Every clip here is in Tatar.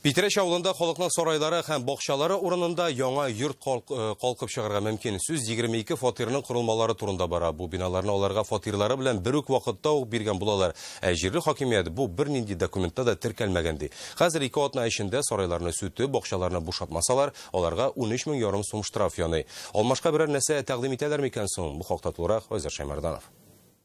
Питрәч авылында халыкның сарайлары һәм бакчалары урынында яңа йорт калкып чыгарга мөмкин. Сүз 22 фатирның корылмалары турында бара. Бу биналарны аларга фатирлары белән бер үк вакытта ук биргән булалар. Ә җирле хакимият бу бернинди документта да теркәлмәгән ди. Хәзер ике атна эчендә сарайларны сүтеп, бакчаларны бушатмасалар, аларга унөч мең ярым сум штраф яный. Алмашка берәр нәрсә тәкъдим итәләр микән соң? Бу хакта тулырак Айзат Шәймарданов.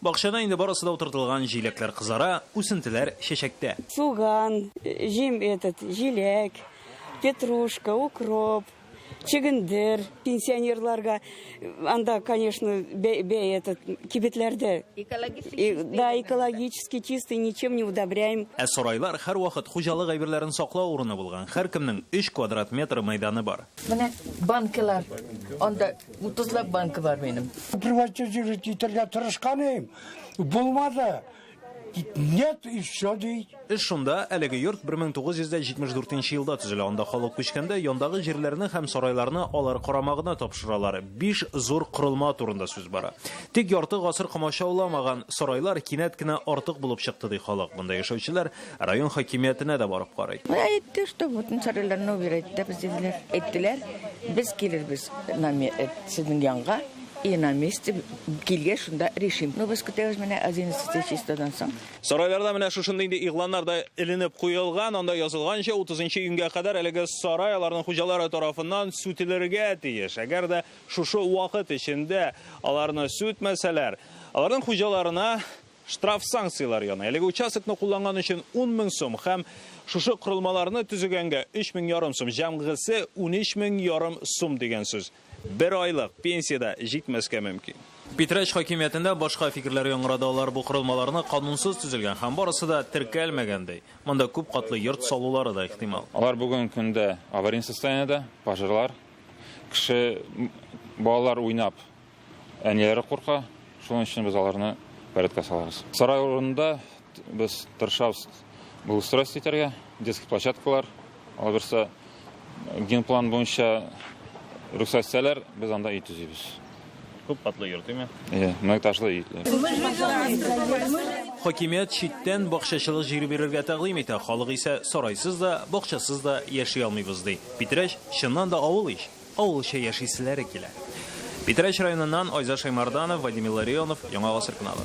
Бакчада инде барысы да утыртылган, җиләкләр кызара, үсентеләр чәчәктә. Суган, җим этот, җиләк, петрушка, укроп, чөгендер. Пенсионерларга анда, конечно, бә, бә этот, кибетләрдә. Да, экологически чистый, ничем не удобряем. Ә сарайлар һәрвакыт хуҗалык әйберләрен саклау урыны булган, һәркемнең өч квадрат метр мәйданы бар. Менә банкалар анда. 30 лап банка бар минем. Приватчы җире китергә тырышканым. Булмады. Нет, и все ди. Эш шунда, әлеге йорт 1974 елда төзелә. Анда халык күчкәндә яндагы җирләрне һәм сарайларны алар карамагына тапшыралар. Биш зур корылма турында сүз бара. Тик ярты гасыр комачауламаган сарайлар кинәт кенә артык булып чыкты ди халык. Монда яшәүчеләр Район хакимиятенә дә барып карый. Әйтте, что вот Сариләрне убирать итәбез диделәр. Әйттеләр, без килербез э, сезнең янга и на месте килгә шунда решим. Ну, без көтәбез менә 11 чистадан соң. Сарайларда менә шушында инде игъланнар да эленеп куелган, анда язылганча 30 нчы июньгә кадәр әлеге сарай аларның хуҗалары тарафыннан сүтелергә тиеш. Әгәр дә шушы вакыт эчендә аларны сүтмәсәләр, аларның хуҗаларына Штраф санкцияләре яна. Әлеге участокны кулланган өчен 10 мең сум һәм шушы корылмаларны төзегәнгә 3 мең ярым сум, җәмгысе 13 мең ярым сум дигән сүз. Бер айлык пенсия дә җитмәскә мөмкин. Питрәч хакимиятендә башка фикерләр яңгырады, алар бу корылмаларны канунсыз төзелгән һәм барысы да теркәлмәгән ди. Монда күп катлы йорт салулары да ихтимал. Алар бүгенге көндә аварийный состояниедә, пожарлар, кеше, балалар уйнап Әниләре курка, шуның өчен без аларны порядка салабыз. Сарай урынында без тырышабыз благоустройство итәргә, детский площадкалар, алаберса генплан буенча рөхсәт итсәләр, без анда өй төзибез. Күп катлы йорт, димме? Иә, многоэтажлы өй. Хакимият читтән бакчачылык җире бирергә тәкъдим итә, халык исә сарайсыз да, бакчасыз да яши алмыйбыз ди. Питрәч, чыннан да авыл ич! Авылча яшиселәре килә. Питрәч районыннан Айза Шәймарданов, Вадим Илларионов, Яңа Гасыр кунагы.